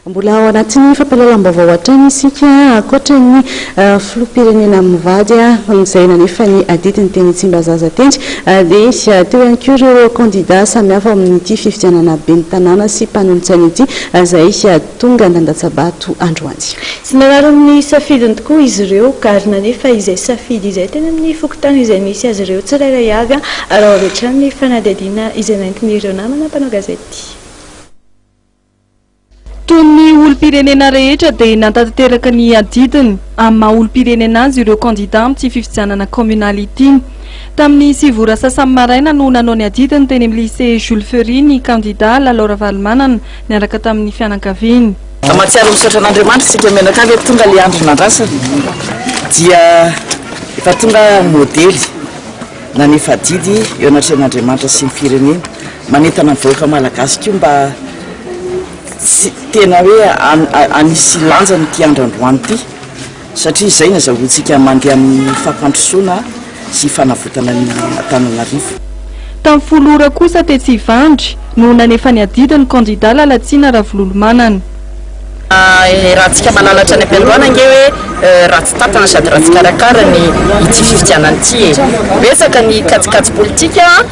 Mbola ao anatin'ny fampahalalam-baovao hatrany isika, ankoatra ny filoham-pirenena mivady izay nanefa ny adidiny teny Tsimbazaza teny, dia teo ihany koa ireo kandida samihafa ao amin'ity fifidianana ben'ny tanàna sy mpanolotsaina ity izay tonga nandatsa-bato androany. Tsy narary ny safidiny tokoa izy ireo ka ary nanefa izay safidy izay teny amin'ny fokontany izay misy azy ireo tsirairay avy, arao avy hatrany ny fanadihadiana izay nentin'ireo namana mpanao gazety. Toy ny olom-pirenena rehetra dia nantanteraka ny adidiny amin'ny maha olom-pirenena azy ireo kandidà amin'ity fifidianana kaominaly ity. Tamin'ny sivy ora sasany maraina no nanao ny adidiny teny amin'ny Lycée Jules Ferry ny kandidà Lalao Ravalomanana niaraka tamin'ny fianakaviany. Mahatsiaro misaotra an'Andriamanitra isika mianakavy eto tonga ilay andro nandrasana dia efa tonga modely nanefa adidy eo anatrehan'Andriamanitra sy ny firenena. Manentana ny vahoaka malagasy koa mba tsy tena hoe hanisy lanjany ity andro androany ity satria izay no azahoantsika mandeha amin'ny fampandrosoana sy fanavotana an'i Antananarivo. Tamin'ny folo ora kosa tetsy Ivandry no nanefa ny adidiny ny kandida Lalatsina Ravololomanana. Iarahantsika malalatra any am-piandohana ange hoe ratsy tantana sady ratsy karakara ny ity fifidianana ity e! Betsaka ny kajikajy politika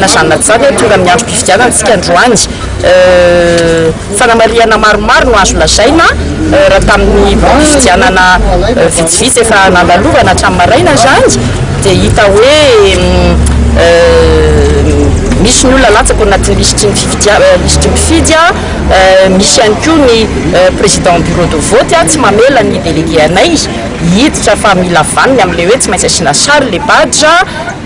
Na izany na tsy izany dia tonga amin'ny androm-pifidianana isika androany. Fanamarihana maromaro no azo lazaina raha tamin'ny valim-pifidianana vitsivitsy efa nandalovana hatramin'ny maraina izany dia hita hoe misy ny olona latsaka ao anatin'ny lisitry ny fifidianana, lisitry ny mpifidy, misy ihany koa ny président bureau de vote tsy mamela ny délégué anay hiditra fa mila vaniny amin'ilay hoe tsy maintsy asiana sary ilay badge.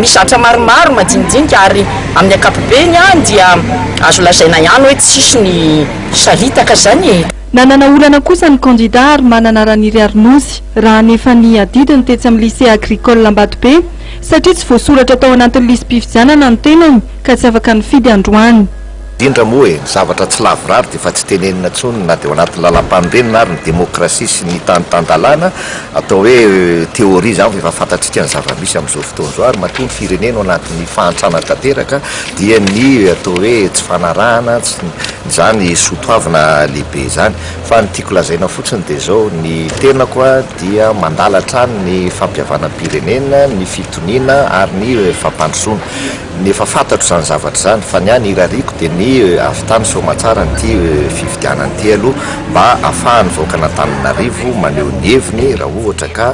Misy zatra maromaro majinijinika ary amin'ny ankapobeny dia azo lazaina ihany hoe tsisy ny saritaka izany e! Nanana olana kosa ny kandida ary manana Raniry Arinozy raha ny efa niadidiny tetsy amin'ny Lycée Agricole Ambatobe satria tsy voasoratra tao anatin'ny lisi-pifidianana ny tenany ka tsy afaka nifidy androany. Indrindra moa e, ny zavatra tsy lavorary dia efa tsy tenenina intsony na dia ao anatin'ny lalampanorenana ary ny demokrasia sy ny tany tan-dalàna, atao hoe théorie izany fa efa fantatsika ny zava-misy amin'izao fotoana izao ary matoa ny firenena ao anatin'ny fahantrana tanteraka dia ny atao hoe tsy fanarahana izany soatoavina lehibe izany. Fa ny tiako lazaina fotsiny dia izao, ny tenako dia mandala hatrany ny fampihavanam-pirenena, ny fitoniana ary ny fampandrosoana. Ny efa fantatro izany zavatra izany fa ny ahy ny irariako dia ny avy tany soamatsara an'ity fifidianana ity aloha mba afahan'ny vahoakan'Antananarivo maneho ny heviny raha ohatra ka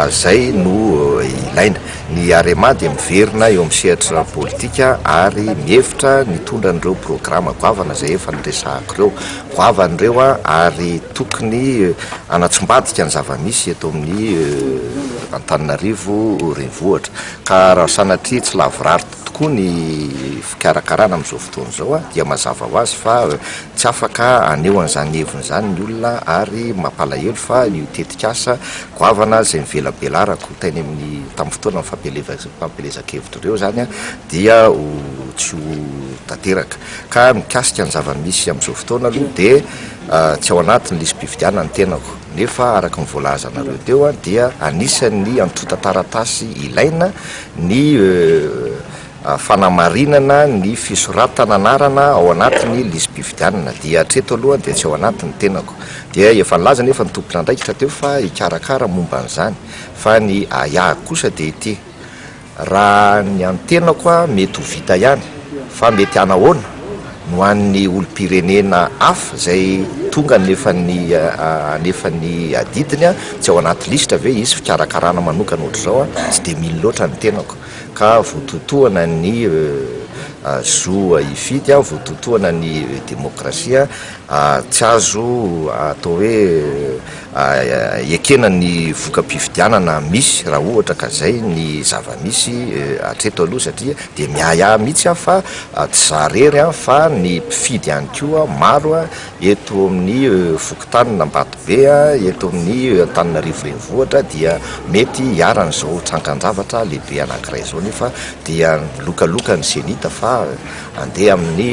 izay no ilaina. Ny Arema dia miverina eo amin'ny sehatra politika ary mihevitra ny tondra an'ireo programa goavana izay efa noresahako ireo. Goavana ireo ary tokony hanatsimbadika ny zava-misy eto amin'ny Antananarivo renivohitra. Ka raha sanatria tsy lavorary tokoa ny fikarakarana amin'izao fotoana izao dia mazava ho azy fa tsy afaka haneho an'izany heviny izany ny olona ary mampalahelo fa io tetikasa goavana izay nivelabelarako teny amin'ny tamin'ny fotoana ny fampielezan-kevitra ireo izany dia ho tsy ho tanteraka. Ka mikasika ny zava-misy amin'izao fotoana aloha dia tsy ao anatin'ny lisi-pifidianana ny tenako. nefa araka ny voalazanareo teo dia anisan'ny antontan-taratasy ilaina ny fanamarinana ny fisoratana anarana ao anatin'ny lisi-pifidianana dia hatreto aloha dia tsy ao anaty ny tenako dia efa nilaza nefa ny tompon'andraikitra teo fa hikarakara momba an'izany fa ny ahy kosa dia ity Raha ny antenako a mety ho vita ihany fa mety hanahoana no an'ny olom-pirenena hafa izay tonga nefa ny hanefa ny adidiny a tsy ao anaty lisitra ve hisy fikarakarana manokana ohatr'izao a tsy dia mino loatra ny tenako ka voatotohana ny zo hifidy a voatotohana ny demokrasia Tsy azo atao hoe ekena ny voka-pifidianana misy raha ohatra ka izay ny zava-misy hatreto aloha satria dia miahiahy mihitsy aho fa tsy izaho irery fa ny mpifidy ihany koa maro eto amin'ny fokontanin'Ambatobe, eto amin'ny Antananarivo Renivohitra dia mety hiharan'izao trankan-javatra lehibe anankiray izao nefa dia milokaloka ny Cenit fa Andeha amin'ny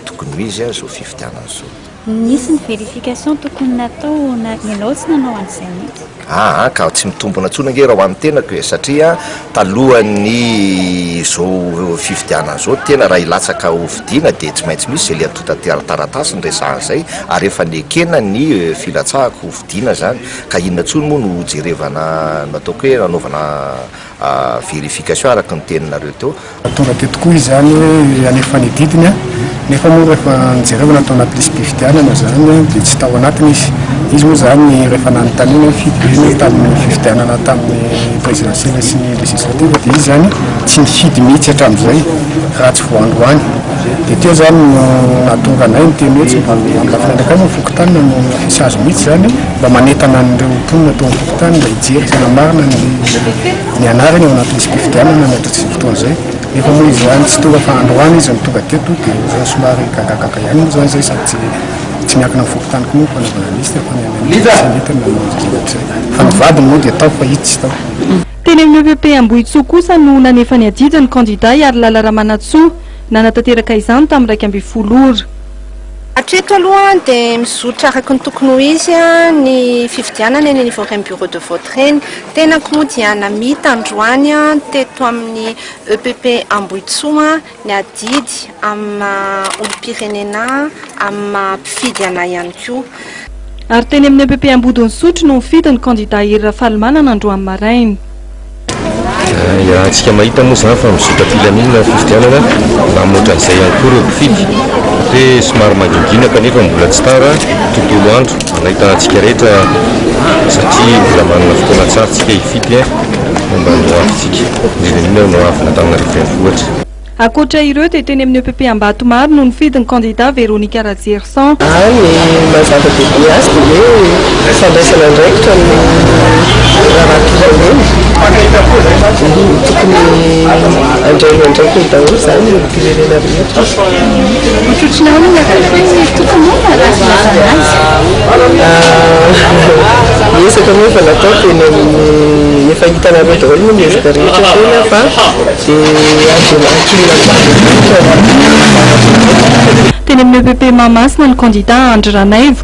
tokony ho izy izao fifidianana izao. Nisy ny vérification tokony natao na ianao tsy nanao an'izay mihitsy. Ah ah, ka tsy mitombina intsony ange raha ho an'ny tenako e, satria talohan'ny izao fifidianana izao tena raha hilatsaka ho fidiana dia tsy maintsy misy izay liantontan-taratasy niresahana izay ary efa nekena ny filatsahako ho fidiana izany ka inona intsony moa no hojerevana nataoko hoe nanaovana verification araka ny teninareo teo. Tonga teto koa izy zany hoe halefa ny didiny a, nefa moa rehefa nojerevana tao anaty lisi-pifidianana zany dia tsy tao anatiny izy. Izy moa zany rehefa nanontaniana hoe firy be ny tamin'ny fifidianana tamin'ny présidentielle sy ny législative dia izy zany tsy nifidy mihitsy hatramin'izay raha tsy vao androany. Dia teo zany no nahatonga anay niteny hoe tsy mba eo amin'ny lafiny andraikiny ny fokontany na ny sazy mihitsy zany mba manentana an'ireo mponina tao Tany mba hijery tena marina ny ny anarany ao anatin'ny fifidianana ny atratr'izay fotoana izay. Nefa moa izy ihany tsy tonga fa androany izy no tonga teto dia ohatran'ny somary gagagaga ihany moa izany izay sady tsy tsy miankina amin'ny fokontany koa moa ny fanaovana liste fa ny any amin'ny Seleta no manao an'izay rehetra izay. Fa ny vadiny moa dia tao fa itsy tsy tao. Teny amin'ny EVP Ambohitsoa kosa no nanefa ny adidy ny kandida Iharilala Ramanantsoa. Nanatanteraka izany tamin'ny iraika ambin'ny folo ora. Hatreto aloha dia mizotra araka ny tokony ho izy ny fifidianana eny anivon'ireny bureau de vote ireny. Tenako moa dia namita androany teto amin'ny EPP Ambohitsoa ny adidy amin'ny maha olom-pirenena ahy, amin'ny maha mpifidy anay ihany koa. Ary teny amin'ny EPP Ambodon'Isotry no nifidy ny kandida Hery Rafalimanana androany maraina. Hiarantsika mahita moa izany fa mizotra am-pilaminana ny fifidianana na amin'ny ohatran'izay ihany koa ireo mpifidy. Mety hoe somary mangingina kanefa mbola tsy tara tontolo andro hanahitana antsika rehetra satria mbola manana fotoana tsara tsika hifidy momba ny hoavintsika, indrindra indrindra ny hoavin'Antananarivo Renivohitra. Ankoatra ireo dia teny amin'ny EPP Ambatomaro no nifidy ny kandida Veronica Rajerison. Raha ny maha zava-dehibe azy dia hoe fandraisana andraikitra ny raharaham-pirenena. Tokony andraina andraikiny daholo izany ny olom-pirenena rehetra. Ohatrohatry ny ahoana ny akatony ny Tompo moa no raha filazana azy? Ny ezaka moa efa natao teny amin'ny, efa hitanareo daholo moa ny ezaka rehetra teny fa Teny amin'ny EPP Mahamasina ny kandida Andry Ranaivo.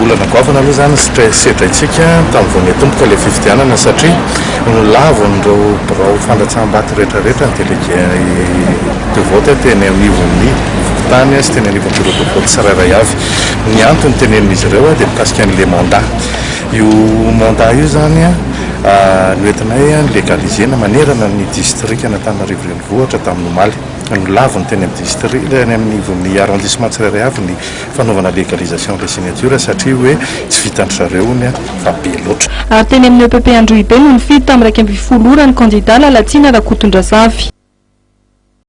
Olana goavana aloha izany ny sedraintsika tamin'ny vao niatomboka ilay fifidianana satria nolavon'ireo birao fandatsaham-bato rehetrarehetra ny delege de vote teny anivon'ny fokontany sy teny anivon'ny bureau de vote tsirairay avy. Ny antony tenenin'izy ireo dia mikasika an'ilay mandat. Io mandat io izany noentinay ni-legaliser-na manerana ny distrikan'Antananarivo Renivohitra tamin'ny omaly. Nolaviny teny amin'ny distri-, teny anivon'ny arrondissement tsirairay avy ny fanaovana legalisation des signatures satria hoe tsy vitan-dry zareo hono fa be loatra. Ary teny amin'ny EPP Androhibe no nifidy tamin'ny iraika ambin'ny folo ora ny kandida Lalatsina Rakotondrazafy.